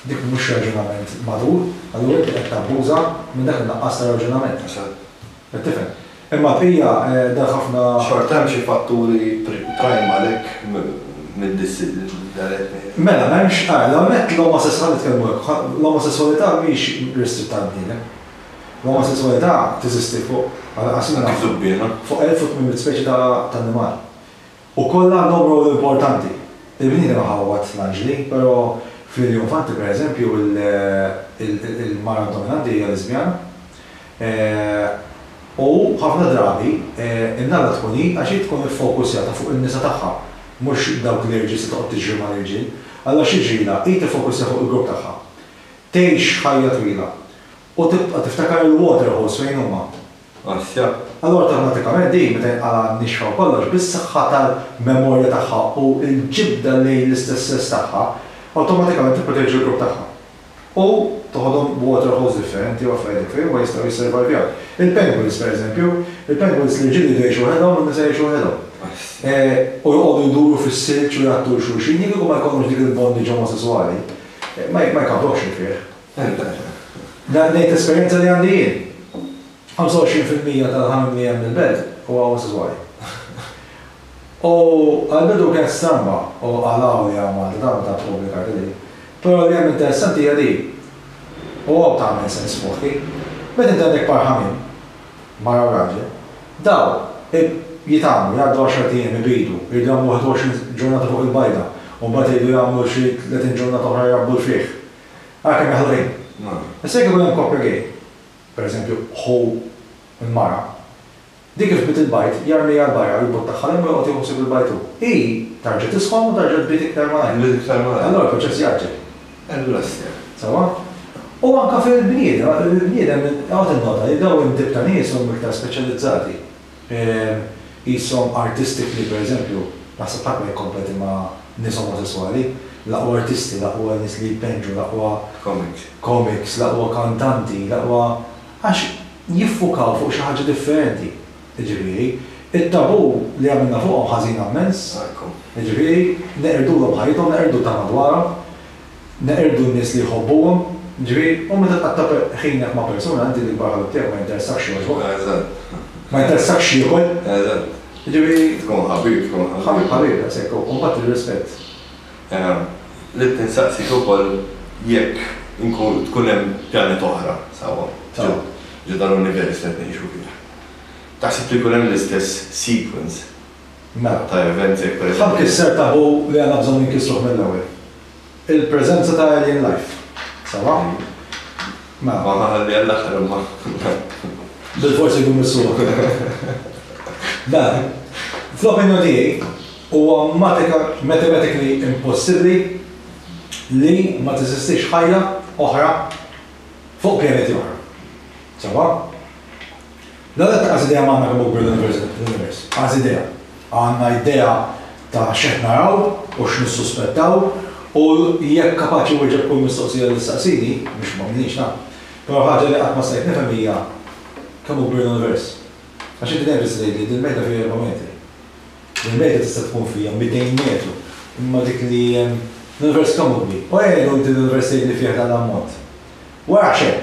dik mhux raġunament matur, allura inti qed tabbuża minn dak in-nuqqas ta' raġunament. Qed tifhem? Imma Pia, dan ħafna. Xorta hemm xi fatturi prime għalhekk middissi l-eletni. Mela, m'hemmx ah, l-ewwel nett l-omosess ħa nitkellmu hekk, ħa l-omosesswalità mhix restritta għall-bniedem. L-omosesswalità teżisti fuq, għal daqstant. Anki żubbiena. Fuq 1800 speċi ta' ta' annimal. Ukoll għandhom rwol importanti. Il-bniedem iħawwad l-anġli, però fl-iljuminfanti, pereżempju, il-mara dominanti hija liżbjana. U ħafna drabi in-nalla tkun hi għax hi tkun iffokusjata fuq in-nisa tagħha, mhux dawk l-irġiel se toqgħod tiġri mal-irġiel. Allura x'jiġrilha? Hi tiffokusja fuq il-grupp tagħha. Tgħix ħajja twila. U tibqa' tiftakar il-waterholes fejn huma. Asja. Allura awtomatikament din meta jinqala' nixfa u kollox, bis-saħħa tal-memorja tagħha u l-ġibda lejn l-istess sess tagħha, awtomatikament tipproteġi l-grupp tagħha. U toħodhom b'waterholes differenti u affarijiet hekk fejn huma jistgħu jisservajvjaw. Il-penguins pereżempju, il-penguins l-irġiel iridu jgħixu waħedhom u n-nisa jgħixu waħedhom. Asja. U joqogħdu jduru fis-silġ u jgħattu 'l xulxin, jekk kieku ma jkollhomx dik il-bondage omosesswali, ma jkabbrokx li fih. Dan ngħid esperjenza li għandi jien. 25 fil-mija tal-ħamim li hemm il-belt huwa omosesswali. U għall-bidu kienet stramba u qalgħu li hawn Malta dan u tant ippubblikajt li. Però li hemm interessanti hija din, u hawn tagħmel sens f'moħħi, meta inti għandek par ħamim, mara u raġel, dawn jitgħammru, jgħaddu għaxart ijiem, ibidu, jridu jagħmlu 21 ġurnata fuq il-bajda, u mbagħad iridu jagħmlu xi 30 ġurnata oħra jrabbu l-frieħ. Għalkemm jaħlu lejn. Issa jekk ikun hemm koppja gay, pereżempju ħu u l-mara, dik li fdiet il-bajt jarmieha 'l barra u jbuttaħħa l-hemm u joqgħod jieħu ħsieb il-bajt hu. Hi tarġa' tisħon u tarġa' tbid iktar malajr. Tbid iktar malajr. Allura l-proċess jgħaġġel. Allura sew. Sewwa? U anke fil-bniedem, il-bniedem, oqgħod innota li dawn it-tip ta' nies huma iktar speċjalizzati. Qishom artistically, per eżempju, naħseb ħadd ma jikkompeti ma' nies omosesswali. L-aqwa artisti, l-aqwa nies li jpenġu, l-aqwa. Comics. Comics, l-aqwa kantanti, l-aqwa. Għax jiffukaw fuq xi ħaġa differenti. Jiġifieri, it-tabù li għamilna fuqhom ħażina mmens. Jiġifieri, neqirduhom ħajjithom, neqirdu ta' madwarhom. Neqirdu n-nies li jħobbuhom, ġifieri, u meta tqatta' ħinjek ma' persuna, inti l-ikbar ħabib tiegħek ma jinteressakx x'jogħġbu. Eżatt. Ma jinteressakx x'jiekol. Eżatt. Jiġifieri. Tkun ħabib, tkun ħabib. Ħabib, ħabib, daqshekk u mbagħad ir-rispett. Ehm, ridt insaqsik ukoll jekk inkun tkun hemm pjaneta oħra sewwa ġo ġo dan l-univers li qed ngħixu fih, taħseb li jkun hemm l-istess sequence? Mela ta' events jekk per eżempju. Ħadd kisser taboo li għandna bżonn inkissruh mill-ewwel. Il-preżenza ta' Alien Life. Sewwa? Mela. Ma ħalli għall-aħħar imma. Bilfors irridu mmissuha. Dan, fl-opinjoni tiegħi, huwa matika mathematically impossibbli li ma teżistix ħajja oħra fuq pjaneti oħra. Sewwa? L-għażla ta' Azidea m'għandha kemm hu kbir l-univers. Azidea. Għandna idea ta' x'qed naraw u x'nissuspettaw u jekk kapaċi nwieġeb kull mistoqsija li ssaqsini, mhux ma minix naf, però ħaġa li qatt ma stajt nifhem hija kemm hu kbir l-univers. Għax inti dejjem tista' tgħidli dil-mejda fiha erba' metri. Dil-mejda tista' tkun fiha mitejn metru, imma dik li hemm, l-univers kemm hu kbir? U għenu inti l-univers tgħidli fih dan l-ammont. Wara xejn.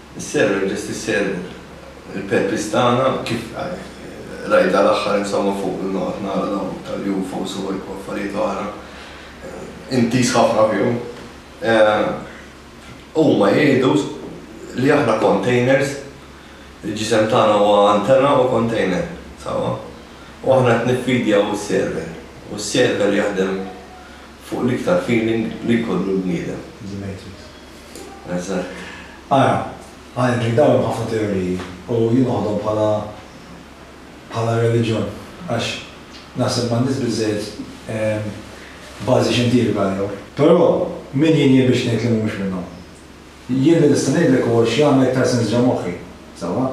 Is-server biss tisservu l-purpose tagħna kif rajt dal-aħħar insomma fuq li noqgħod nara dawn tal-UFOs u affarijiet oħra intiż ħafna fihom. Huma jgħidu li aħna containers, il-ġisem tagħna huwa antenna u container, sewwa? U aħna qed niffidjaw is-server u s-server jaħdem fuq l-iktar feeling li jkollu l-bniedem. The Matrix. Ara, għalhekk dawn hemm ħafna teoriji u jien noħodhom bħala bħala reliġjon għax naħseb m'għandhiex biżżejjed bażi xjentifika għalihom. Però min jien jien biex ngħid li mhumiex minnhom? Jien li nista' ngħidlek huwa x'jagħmel iktar sens ġo moħħi, sewwa?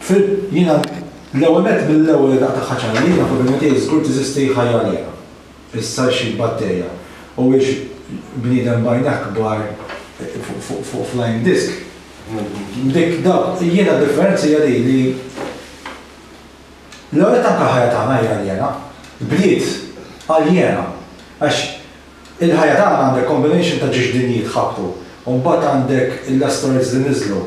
Fil, jiena l-ewwel nett mill-ewwel idaq tagħha ċara li jiena fl-opinjoni tiegħi żgur teżisti ħajja għalihna. Issa xi batterja? Huwiex bniedem b'għajnejh kbar fuq flying disc? Dik, dawk, jiena d-differenza hija din li l-ewwel nett anke l-ħajja tagħna hija aljena. Bliet aljena. Għax il-ħajja tagħna għandek combination ta' ġiex dinji tħabbtu u mbagħad għandek l-asteroids li niżlu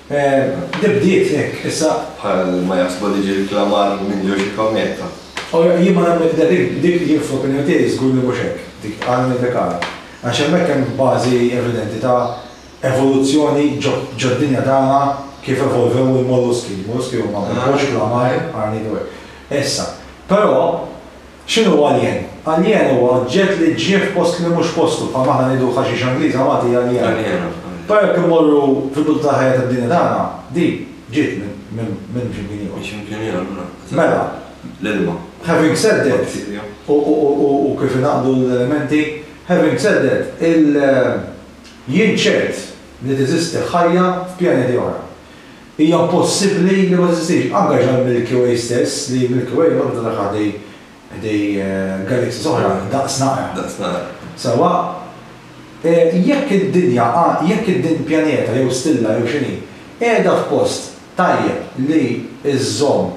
Li bdiet hekk issa. Bħal ma jaħsbu li ġie rklamar minn ġo xi kometa. O, jien ma nemmen f'din, dik, jien fl-opinjoni tiegħi żgur li mhux hekk, dik għan medikali. Għax hemmhekk hemm bażi evidenti ta' evoluzzjoni ġod-dinja tagħna kif evolvew il-molluski. Il-molluski huma mhux klamar, għarniet u hekk. Issa, però, X'inhu alien? Alien huwa oġġett li ġie f'post li mhux postu, bħalma aħna ngħidu ħaxixa Ingliża Malti hija aliena. Però jekk immorru fil-bidu tal-ħajja tad-dinja tagħna, di ġiet minn xi mkien ieħor. Minn xi mkien ieħor, mela. Mela. L-ilma. Having said that, u kif ingħaqdu l-elementi, having said that, il, jien ċert li teżisti ħajja f'pjaneti oħra. Hija possibbli li ma teżistix. Anke ġol Milky Way stess, li Milky Way waħda tara ħdej ħdej galaxies oħra daqs naqra. Daqs naqra. Sewwa, jekk id-dinja għa, jekk id-din pjaneta jew stilla jew x'inhi, qiegħda f'post tajjeb li żżomm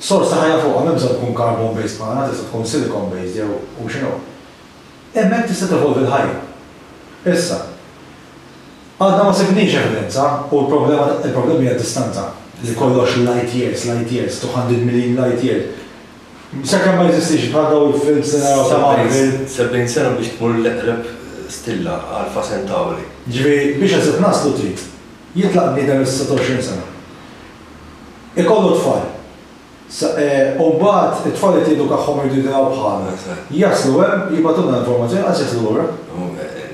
sors ta' ħajja fuqha, m'hemm bżonn tkun carbon based bħalna, tista' tkun silicon based jew hu x'inhu, hemmhekk tista' tevolvi l-ħajja. Issa. Għadna ma sibniex evidenza u l-problema il-problema hija d-distanza, li kollox light years, light years, 200 miljin light year. Sakemm ma jeżistix bħal dawn il-films li naraw ta' Marvel. 70 sena biex tmur l-eqreb stilla, Alpha Centauri. Jiġifieri biex eżatt naslu trid jitlaq bniedem is-26 sena, ikollu t-tfal, U mbagħad it-tfal li tiedukahhom iridu jidhraw bħalna. Jaslu hemm, jibgħatulna l-informazzjoni, qatt jaslu lura.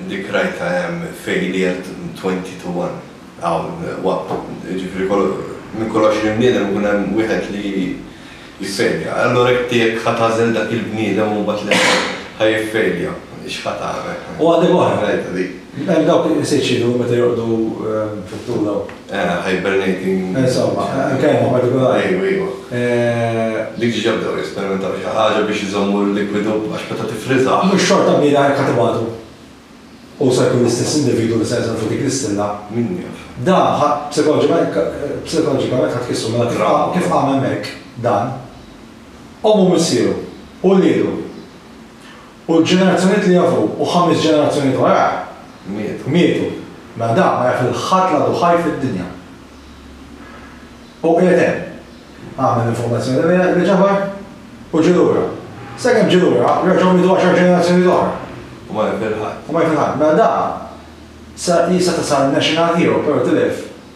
Dik rajtha hemm fejn qiegħed twenty to one. Hawn waqt, jiġifieri minn kull għoxrin bniedem ikun hemm wieħed li jiffejlja. Allura inti jekk ħa tagħżel dak il-bniedem u mbagħad li ħa jiffejlja, x'ħa tagħmel? U għandek oħra. Rajtha dik. Hemm dawk li qed iċinu meta jorqdu fit-tul hawn. Hibernating. Insomma, kelma partikolari. Ejwa, ejwa. Li diġà bdew jesperimentaw xi ħaġa biex iżommu l-likwidu għax meta tiffriżah. Mhux xorta kbira hekk ħadd ibagħtu. U se jkun l-istess individwu li se jinżel fuq dik l-istilla. Min jaf. Dan psikoloġikament ħa tqissu mela kif qam hemmhekk dan, ommu missieru, u wliedu. U l-ġenerazzjonijiet li jafu u ħames ġenerazzjonijiet warajh mietu. Mietu. Mela dan ma jaf lil ħadd l-għadu ħaj fid-dinja. U qiegħed hemm. Għamel l-informazzjoni miegħek li ġabar u ġie lura. Sakemm ġie lura, reġgħu mietu għaxar ġenerazzjonijiet oħra. U ma jaf lil ħadd. U ma jaf lil ħadd. Mela dan seta' sar national hero, però tilef.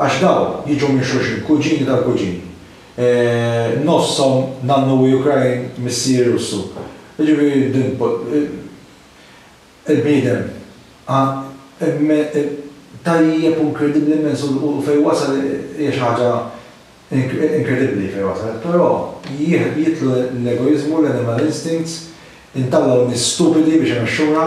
Għax dawn jiġu minn xulxin, kuġini tal-kuġini. Nofshom nannu hu Ukrain, missier Russu. Jiġifieri din il-bniedem tajjeb u inkredibbli immens u fejn wasal hija xi ħaġa Inkredibbli fejn waslet, però jidħlu l-egoiżmu, l-animal instincts, intallgħu nies stupidi biex imexxuna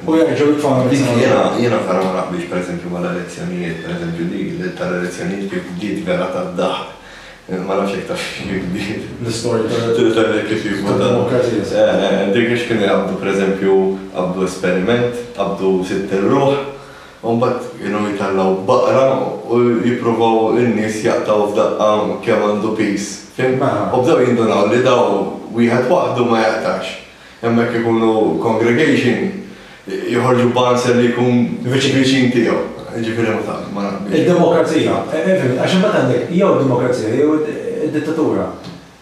u jerġgħu jitfgħuna mill-sema. Jiena vera ma naqbilx pereżempju mal-elezzjonijiet, pereżempju dik tal-elezzjonijiet kif bdiet vera tad-daħq, ma nafx jekk tafx kif bdiet. L-istorja tad-demokrazija. Dik x'kienu jaqbdu pereżempju, qabdu esperiment, qabdu sitt irruħ, U mbagħad kienu jtallgħu baqra u jippruvaw in-nies jaqtgħu f'daqqa kemm għandu piż, fhimt? U bdew jindunaw li daw wieħed waħdu ma jaqtax. Imma jekk ikunu congregation, joħorġu b'answer li jkun viċin tiegħu. Jiġifieri ma taf, ma naf. Id-demokrazija, fhimt, għax imbagħad għandek jew id-demokrazija jew id-dittatura.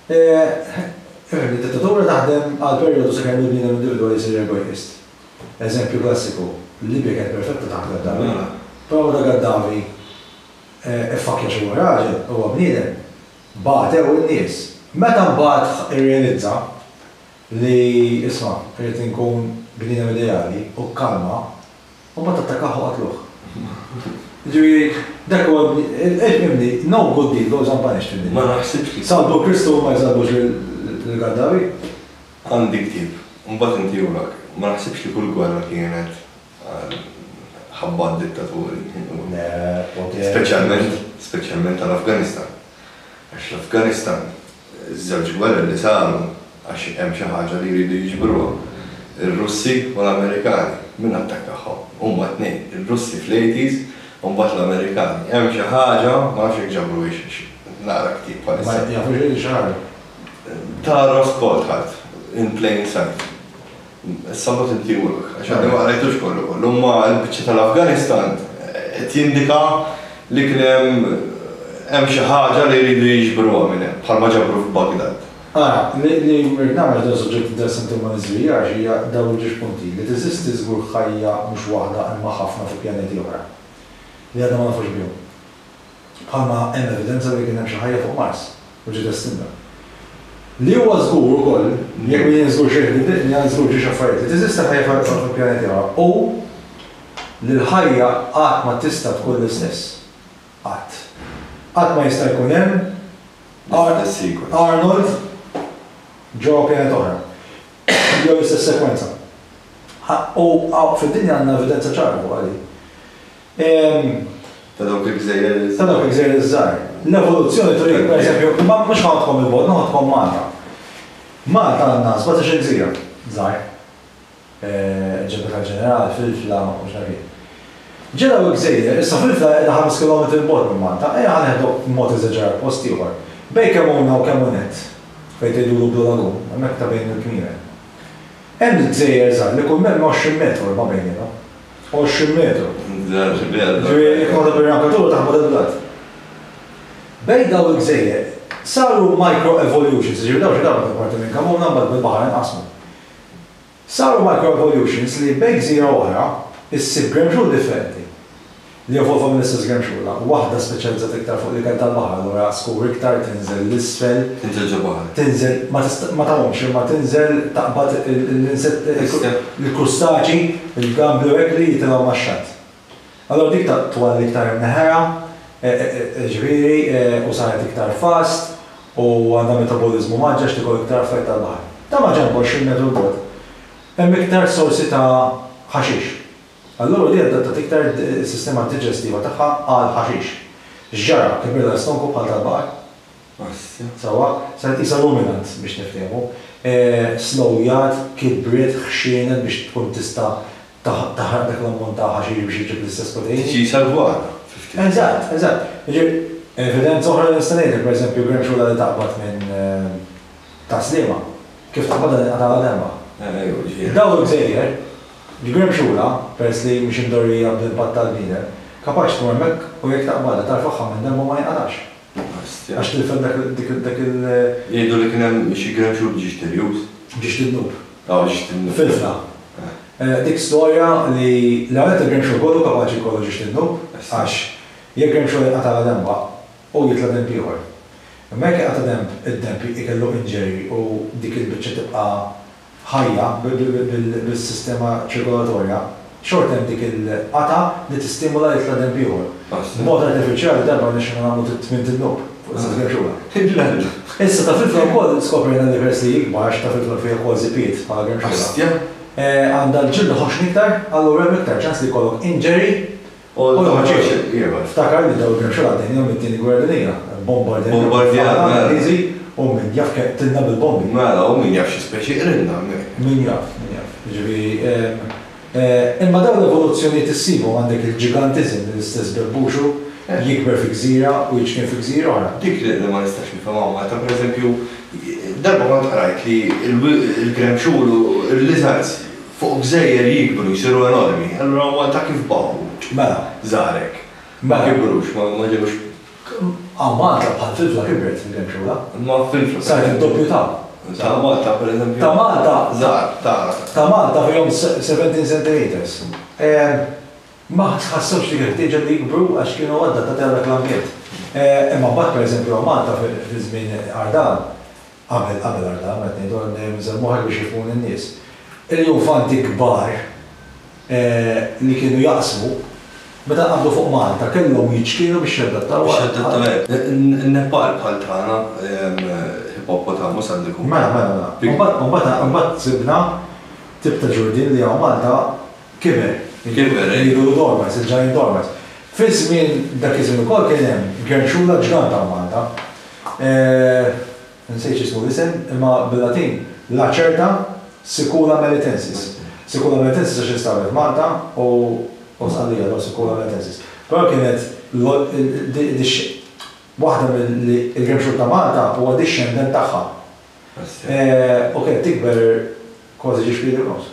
Fhimt, id-dittatura taħdem għal perjodu sakemm il-bniedem individwali jsir egoist. Eżempju klassiku, Libja kienet perfetta taħt Gaddafi, però meta Gaddafi ffakkja xi huwa raġel, huwa bniedem, bagħtew in-nies. Meta mbagħad irrealizza li isma' irrid inkun bniedem ideali u kkalma, mbagħad attakkah u qatluh. Jiġifieri dak huwa l-imni, no good deed goes unpunished in Libya. Salbu Kristu u ma jsalbux lil Gaddafi? Għandi ktieb, u mbagħad intiehulek. Ma naħsibx li kull gwerra kienet għal ħabba għad-dittaturi. Le, poter. Speċjalment, speċjalment għall-Afganistan. Għax l-Afganistan, iż-żewġ gwerer li saru għax hemm xi ħaġa li jridu jiġbruha. Ir-Russi u l-Amerikani. Min attakkahom? Huma t-tnejn. Ir-Russi fl-80s u mbagħad l-Amerikani. Hemm xi ħaġa, ma nafx jekk ġabruhiex għax qed naqra ktieb bħalissa. Ma jafux li saru. Tara spot ħadd in plain sight. Issa mbagħad inti jmurlok, għax għadni ma qrajtux kollu kollu, imma l-biċċa tal-Afganistan qed jindika li kien hemm hemm xi ħaġa li jridu jiġbruha minn hemm, bħalma ġabru f'Baghdad. Ara, li rrid nagħmel għax dan suġġett interessanti u ma niżvijahx hija dawn il-ġiex punti, li teżisti żgur ħajja mhux waħda imma ħafna fuq pjaneti oħra li għadna ma nafux bihom. bħalma hemm evidenza li kien hemm xi ħajja fuq Mars u ġiet estinta. Li huwa żgur ukoll li jekk min jien żgur xejn li jidriqni għan żgur ġiex affarijiet li teżisti ħajja fuq il-pjaneti oħra u li l-ħajja qatt ma tista' tkun l-istess. Qatt. Qatt ma jista' jkun hemm Arnold ġewwa pjaneta oħra jew l-istess sekwenza. U fid-dinja għandna evidenza ċara fuqha din. Ta' dawk il-gżejjer. Ta' dawk il-gżejjer iż-żgħar. L-evoluzzjoni turi, per eżempju, ma mhux ħanħodkom 'il bogħod, ħanħodkom Malta. Malta għandna sbatax-il gżira żgħar. Ġebla tal-Ġeneral, Filfla, u x'naf jien. Ġa dawn il-gżejjer, issa Filfla qiegħda ħames kilometri 'l bogħod minn Malta, ejja ħa neħdu b'mod eżaġerat post ieħor. Bejn kemm hawn u kemm hawn nett, fejn tgħidulu Blue Lagoon, hemmhekk ta' bejn il-kmieren. Hemm gżejjer żgħar li kull minn hemm 20 metru 'l ma bejniethom. 20 metru. Ġifieri jkollok ir-rampjatura taħt mudell bl-art. Bejn dawn il-gżejjer saru microevolutions, ġifieri dawn xi darba kienu parti minn kamuna mbagħad bil-baħar inqasmu. Saru microevolutions li bejn gżira u oħra ssib gremxul differenti li evolva mill-istess gremxula, waħda speċjalizzata iktar fuq l-ikel tal-baħar, allura skur iktar, tinżel 'l isfel. Tinżel ġol-baħar. Tinżel, ma tagħumx imma tinżel taqbad il-insetti, il-krustaċi. Il-gambli u l-egli jitilgħu max-xatt. Allura dik twal iktar imneħħera, jiġifieri, u saret iktar fast u għandha metaboliżmu mgħaġġaġ tikol iktar affett tal-baħar. Ta' maġenb 20 metru 'l bogħod hemm iktar sorsi ta' ħaxix. Allura di adattat iktar is-sistema diġestiva tagħha għall-ħaxix. X'ġara? Kibrilha l-istonku bħal tal-baqar. Sewwa, se nqisha ruminant biex niftehmu. Slowjat, kibbriet, ħxienet biex tkun tista' taħraq dak l-ammont ta' ħaxix biex iġġib l-istess proteini. Tiġi salvata fi ftit ħin. Eżatt, eżatt. Jiġifieri, evidenza oħra li nista' ngħidlek, pereżempju, gremxula li taqbad minn tas-Sliema, kif taqbadha tinqatagħlha demgħa. Ejwa, ġifieri. Dawn il-gżejjer, il-gremxula, peress li mhix imdorrijia bl-impatt tal-bniedem, kapaċi tmur hemmhekk u jekk taqbadha tarfagħha minn demgħa u ma jinqatagħx. Ostja. Għax tilfet dak il-, dik il-, dak il-. Jgħidu li kien hemm xi grand shoot b'ġiex tirjus. B'ġiex tidnub. Ah, b'ġiex tidnub. Filfla. Eh. Dik storja li l-ewwel nett il-grand shoot kollu kapaċi jkollu ġiex tidnub għax jekk grand shoot jinqata' la denba u jitla' denb ieħor. Imma jekk jinqata' denb, id-denb ikellu injury u dik il-biċċa tibqa' ħajja bis-sistema ċirkolatorja, xorta hemm dik il-qatgħa li tistimula jitla' denb ieħor. B'mod artifiċjali darba rnexxilna nagħmlu tmien tinnuk fuq l-istess grimxula. Issa tafilfla wkoll skoprejna li peress li hi kbar għax it-tafilfla fih ukoll żipiet bħala grimxula, għandha l-ġild iħoxxni iktar, allura hemm iktar ċans li jkollok injury, Ftakar li dawl kien xogħol għaddejna mit-Tieni Gwerra Dinjija, bombardjati mill-Ingliżi u min jaf kemm qtilna bil-bombi. Mela, u min jaf xi speċi qrilna hemmhekk. Min jaf, min jaf. Jiġifieri, imma dawn l-evoluzzjonijiet issibhom għandek il-ġigantiżem li l-istess bebbuxu jikber fi gżira u jiċkien fi gżira oħra. Dik li ma nistax nifhimha Malta, pereżempju, darba kont qrajt li l-gramxul u l-lizards, Fuq gżejjer jikbru jsiru enormi, allura huma ta' kif baqgħu? Mela. Żgħarek. Ma kibrux, ma ġewx. Hawn Malta bħal fil-fla kibret minn kemm xhur, ha? Imma fil-fla. Saret id-doppju ta'. Ta' Malta pereżempju. Ta' Malta. Żgħar, ta'. Ta' Malta fihom 17 centimetres. Ma ħassewx dik il-ħtieġa li jikbru għax kienu adattati għar-reklamjiet. Imma mbagħad pereżempju hawn Malta fi żmien Ardan, Qabel, qabel għal dan, qed ngħidu, għandi dejjem inżel moħħi biex jifhmuni n-nies. Il-Junfanti kbar li kienu jaqsmu, meta nqabdu fuq Malta, kellhom jiċkielu biex jadattaw għal. Biex jadattaw, hekk. In-Nepal bħal tagħna, Hippopotamus għandu jkun. Mela, mela, mela. Imbagħad, imbagħad, imbagħad sibna tip ta' ġurdien li hawn Malta Kiber. Kiber, eh. Ilu dormant, il-ġgant dormant. Fiż-żmien, dak iż-żmien ukoll kien hemm gernxula ġgant hawn Malta. Insejt x'ismu l-isem, imma bil-Latin, Lacerta sicula melitensis. Sicula melitensis għax instabet Malta u u Sqallija, allura sicula melitensis. Però kienet waħda mill-li il-gernxul ta' Malta huwa dixxendent tagħha. U kienet tikber kważi ġiex piedi u nofs.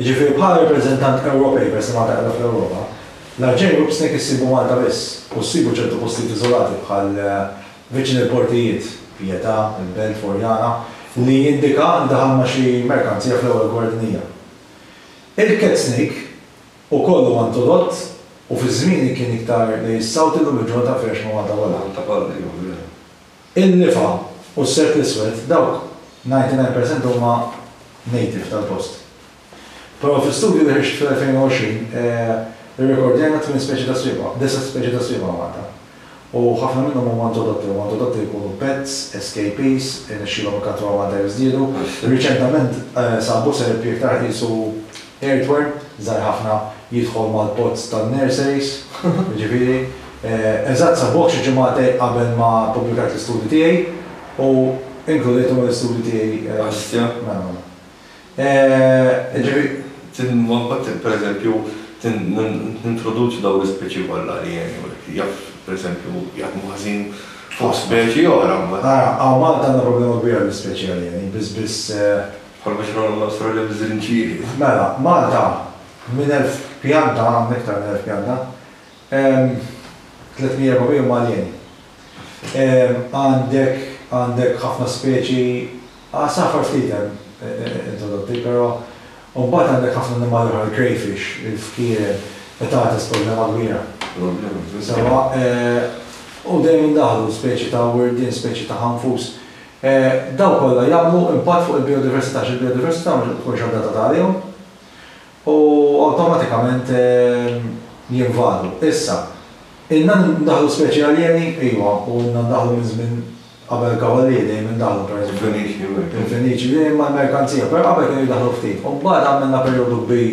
Jiġifieri bħala rappreżentant Ewropej peress li Malta qiegħda fl-Ewropa, l-Arġen Group Snake issibu Malta biss u ssibu ċertu postijiet iżolati bħal viċin il-portijiet, Pietà, il-Belt, Furjana, li jindika li daħal ma' xi merkanzija fl-ewwel gwardnija. Il-Cat Snake ukoll huwa introdott u fi żmieni kien iktar lejn is-South illum il-ġurnata mfirrex ma' Malta kollha. In-Nifa u s-Sert l-Iswed, dawk 99 percent huma native tal-post. Però fi studju li ħriġt fl-2020 irrekordjajna tmien speċi ta' swiebgħa, disa' speċi ta' swiebgħa Malta. U ħafna minnhom huma introdotti, huma introdotti li jkunu pets, escapees, irnexxielhom ikattruha Malta jiżdiedu. Riċentament sabu serpi iktar ħisu Hardware żgħir ħafna jidħol mal-pods tan-nurseries, jiġifieri, eżatt sa bogħod xi ġimagħtej qabel ma ppubblikajt l-istudju tiegħi u inkludejthom mal-istudju tiegħi. Hastja. Mela, mela. Jiġifieri. Tinwaħħad, pereżempju, nintroduċi dawn l-ispeċi kollha li jgħinu li jaf, pereżempju, jaħdmu ħażin fuq speċi oħra mbagħad. Ara, hawn Malta għandna problema kbira bl-ispeċi alieni, biss biss. Bħal biex nagħmlu l-għasra li nżid nċieħi. Mela, Malta, minn elf pjanta, hemm iktar minn elf pjanta, hemm 300, 400 huma aljeni. Għandek, għandek ħafna speċi, għasafar ftit hemm introdotti, però u mbagħad għandek ħafna annimali oħra, il-crayfish, il-fkieren, qed tagħtes problema kbira. Problema, veru. Sewwa, u dejjem indaħħlu speċi ta' wirdien, speċi ta' ħanfus. Dawn kollha jagħmlu impatt fuq il-bijodiversità għax il-bijodiversità mhux qed tkun xaddata ta' għalihom u awtomatikament jinvadu. Issa, ilna ndaħħlu speċi aljeni? Iva, u ilna ndaħħlu minn żmien qabel il-Kavallieri dejjem indaħħlu, pereżempju. Il-Feniċi. Il-Feniċi, li huma l-merkanzija, però qabel kienu jdaħħlu ftit. U mbagħad għamilna perjodu kbir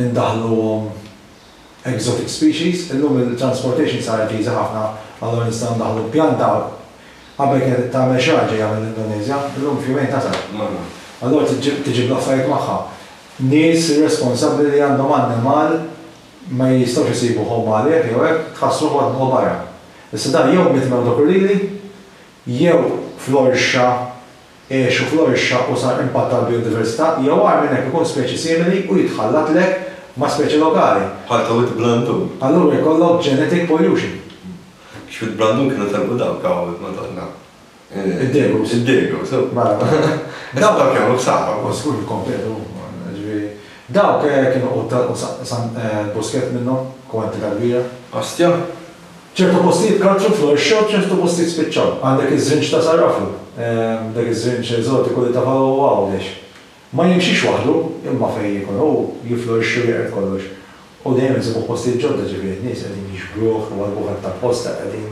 indaħħluhom exotic species. Illum il-transportation saret easy ħafna, allura nistgħu ndaħħlu l-pjanta. Qabel kienet trid tagħmel xi ħaġa hija mill-Indonesia, illum f'jumejn tasal. Allura trid tiġib l-affarijiet magħha. Nies responsabbli li għandhom annimal ma jistgħux isibu home għalih jew hekk, tħass ruħu qed tmur barra. Issa dan jew mitt mewt u krulili, jew fl-orxa Għex u florixxa u sar impatt għall-bijodiversità, jew agħar minn hekk ikun speċi simili u jitħallatlek ma' speċi lokali. Bħal tawwid blandun. Allura jkollok genetic pollution. X'wid blandun kienu telqu dawk tawwid, Madonna. Id-degus. Id-degus, u. Mela, mela. Dawk jagħmlu ħsara. U żgur jikkompetu, jiġifieri. Dawk kienu quttan u San Buskett minnhom, kwantità kbira. Ostja. Ċertu postijiet karċu florixxew b'ċertu postijiet spiċċaw. Għandek iż-żrinġ ta' Sarrafu, dak iż-żrinġ eżotiku li taf hawn u Għawdex. Ma jimxix waħdu, imma fejn jkun hu, jiflorixxi u jeqred kollox. U dejjem insibuh postijiet ġodda, ġifieri n-nies qegħdin jixbruh, iwarrbuh aktar posta, qegħdin.